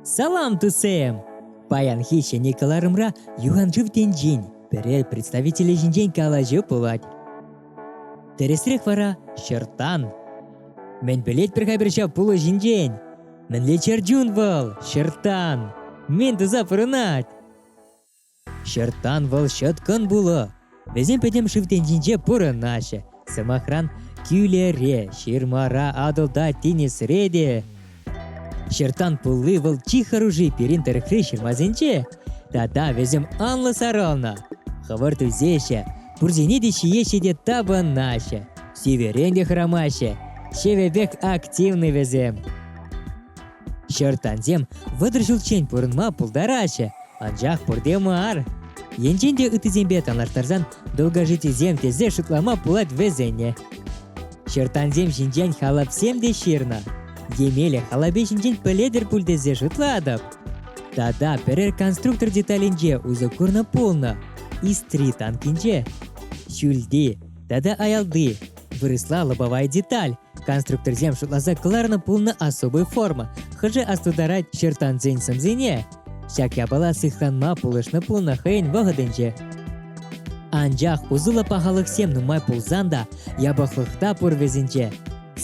Салам, тусем! Паянхи ҫӗнӗ кӑларӑмра юханшыв тӗнчин пӗрер представителӗ ҫинчен калаҫу пулать. Тӗрӗсрех вара ҫӑрттан. Мӗн пӗлет пӗр-ха пӗр ҫав пулӑ ҫинчен? Мӗнле чӗр чун вӑл, ҫӑрттан? Мӗн туса пурӑнать? Ҫӑрттан вӑл ҫӑткӑн пулӑ. Вӗсем пӗтӗм шыв тӗнчинче пурӑнаҫҫӗ. Сӑмахран, кӳлере, ҫырмара, Атӑлта, тинӗсре те. Ҫӑрттан пулли вӑл чи хӑрушӑ пирӗн тӑрӑхри ҫырмасенче. Тата вӗсем анлӑ сарӑлнӑ. Хӑвӑрт ӳсеҫҫӗ, пурсене те ҫиеҫҫӗ те тапӑнаҫҫӗ. Сивӗрен те хӑрамаҫҫӗ. Ҫӗвӗпех активны вӗсем. Ҫӑрттансем вӑтӑр ҫулччен пурӑнма пултараҫҫӗ, анчах пурте мар. Енчен те ыттисемпе танлаштарсан долгожитисем тесе шутлама пулать вӗсене. Ҫӑрттансем ҫинчен халапсем те ҫырнӑ. Емеле халапе ҫинчен пӗлетӗр пуль тесе шутлатӑп. Тата пӗрер конструктор деталӗнче усӑ курнӑ пулнӑ. Истри танкинче. Ҫӳлти тата аялти вырӑсла лобовая деталь Конструкторсем шутласа кӑларнӑ пулнӑ особый форма, хӑшӗ астутарать чертансен сӑмсине. Ҫак япала сыхланма пулӑшнӑ пулнӑ хӑйӗн вӑхӑтӗнче. Анчах усӑллӑ пахалӑхсем нумай пулсан та япӑхлӑхта пур вӗсенче.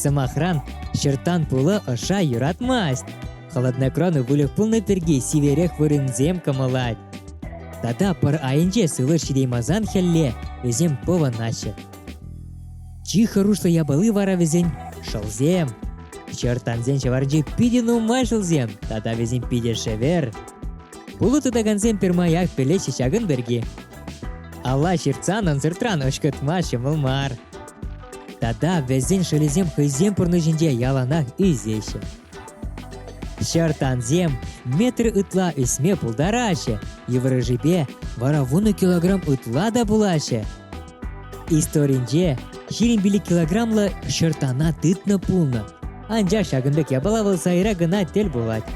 Сӑмахран, чертан пулӑ ӑша юратмасть. Холодной кроны выльӑх пулнӑ пирки сиверех вырӑнсем кӑмӑлать. Тата пӑр айӗнче сывлӑш ҫитеймасан хӗлле вӗсем пӑвӑнаҫҫӗ. Чи хӑрушлӑ япали вара вӗсен шӑлсем. Чӑрттансен ҫӑварҫи питӗ нумай шӑлсем тата вӗсем питӗ шӗвер. Пулӑ тытакансем пӗрмаях пӗлеҫҫӗ ҫакӑн пирки. Алла ҫыртсан ансыртран ӑшкӑтма ҫӑмӑл мар. Тата вӗсен шӑлӗсем хӑйсен пурнӑҫӗнче яланах ӳсеҫҫӗ. Ҫӑрттансем метр ытла ӳсме пултараҫҫӗ, йывӑрӑшӗпе вара вунӑ килограмм ытла та пулаҫҫӗ. Историнче ҫирӗм пилӗк килограммлӑ ҫӑртана тытнӑ пулнӑ. Анчах ҫакӑн пек япала вӑл сайра кӑна тӗл пулать.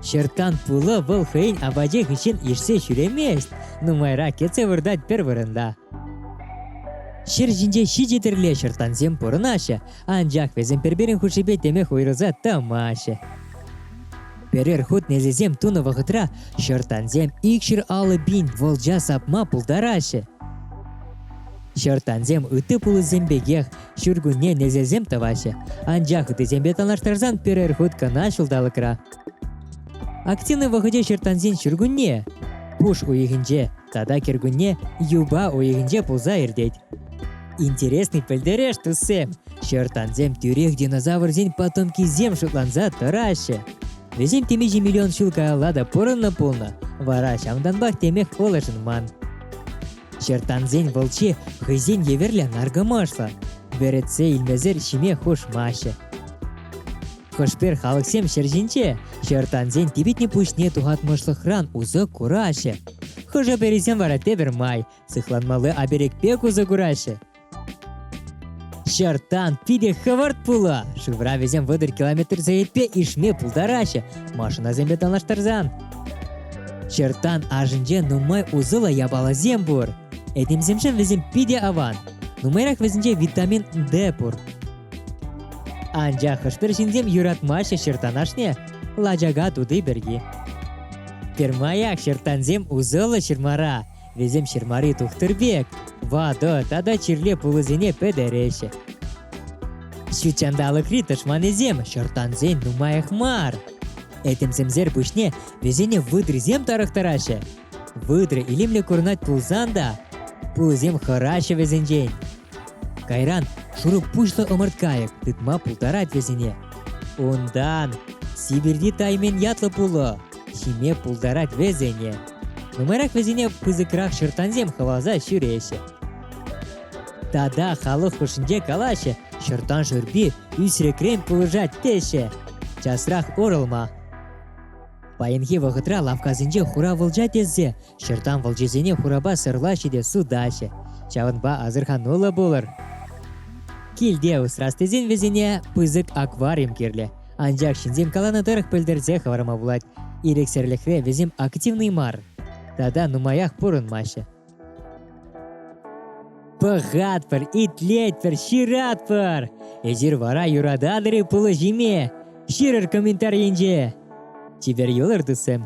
Ҫӑрттан пулӑ вӑл хӑйӗн апачӗ хыҫҫӑн ишсе ҫӳремест, нумайрах кӗтсе выртать пӗр вырӑнта. Ҫӗр ҫинче ҫичӗ тӗрле ҫӑрттансем пурӑнаҫҫӗ, Анчах вӗсем пӗр-пӗрин хушшипе темех уйрӑлса тӑмаҫҫӗ. Пӗрер хут несӗлсем тунӑ вӑхӑтра ҫӑрттансем икҫӗр аллӑ пин волча сапма пултараҫҫӗ. Ҫӑрттансем ытти пулӑсем пекех ҫуркунне несӗлсем тӑваҫҫӗ, анчах ыттисемпе танлаштарсан пӗрер хут кӑна ҫулталӑкра. Активный вӑхӑтӗ ҫӑрттансен ҫуркунне пуш уйӑхӗнче тата кӗркунне юпа уйӑхӗнче пулса иртет. Интересный пӗлтереш, туссем! Ҫӑрттансем тӳрех динозаврсен потомкисем шутланса тӑраҫҫӗ. Вӗсем темиҫе миллион ҫул каялла та пурӑннӑ пулнӑ, вара ҫавӑнтанпах темех пулӑшӑнман. Ҫӑрттансен вӑлчи хӑйсен евӗрлӗ наркӑмӑшлӑ. Вӗретсе илмесӗр ҫиме хушмаҫҫӗ. Хӑшпер халӑхсем ҫӗр ҫинче ҫӑрттансен типӗтнӗ пуҫне тухатмӑшлӑхран усӑ кураҫҫӗ. Хӑшӗ-пӗрисем вара тепӗр май Сыхланмалли оберегпе усӑ кураҫҫӗ. Ҫартан питӗ хӑвӑрт пулӑ. Шывра вӗсем вӑтӑр километр сехетпе ишме пултараҫҫӗ, машинасемпе танлаштарсан. Ҫартан ашӗнче нумай усӑллӑ япаласем пур. Этемсемшӗн вӗсем питӗ аван. Нумайрах вӗсенче витамин D пур. Анчах хӑш-пӗр ҫынсем юратмаҫҫӗ ҫыртан ашне, лачака тути пирки. Пӗрмаях ҫыртансем усӑллӑ ҫырмара, Вӗсем ҫырмари тухтӑр пек ватӑ тата чирле пулӑсене пӗтереҫҫӗ. Ҫут ҫанталӑкри тӑшманӗсем шӑрттансен нумаях мар. Этемсемсер пуҫне вӗсене выдрисем тарӑхтараҫҫӗ. Выдра илемлӗ курӑнать пулсан та, пулӑсем хӑраҫҫӗ вӗсенчен. Кайран шурӑ пуҫлӑ ӑмӑрткайӑк тытма пултарать вӗсене. Унтан Сибирьти Таймен ятлӑ пулӑ ҫиме пултарать вӗсене. Нумайрах вӗсене пысӑкрах шӑрттансем хӑваласа ҫӳреҫҫӗ. Тата халӑх хушшинче калаҫҫӗ, шӑрттан шӳрпи ӳсрӗкрен пулӑшать теҫҫӗ. Часрах орӑлма. Паянхи вӑхӑтра лавккасенче хура вӑлча тессе шӑрттан вӑлчисене хурапа сӑрлаҫҫӗ те сутаҫҫӗ. Ҫавӑнпа асӑрхануллӑ пулӑр. Килте усрас тесен вӗсене пысӑк аквариум кирлӗ. Анчах ҫынсем каланӑ тӑрӑх пӗлтерсе хӑварма пулать, ирӗксӗрлӗхре вӗсем активнӑй мар тата нумаях пурӑнмаҫҫӗ. Пӑхатпӑр, итлетпӗр, ҫыратпӑр! Эсир вара юрататӑр-и пулӑҫиме? Ҫырӑр комментар енче. Чипер юлӑр, туссем!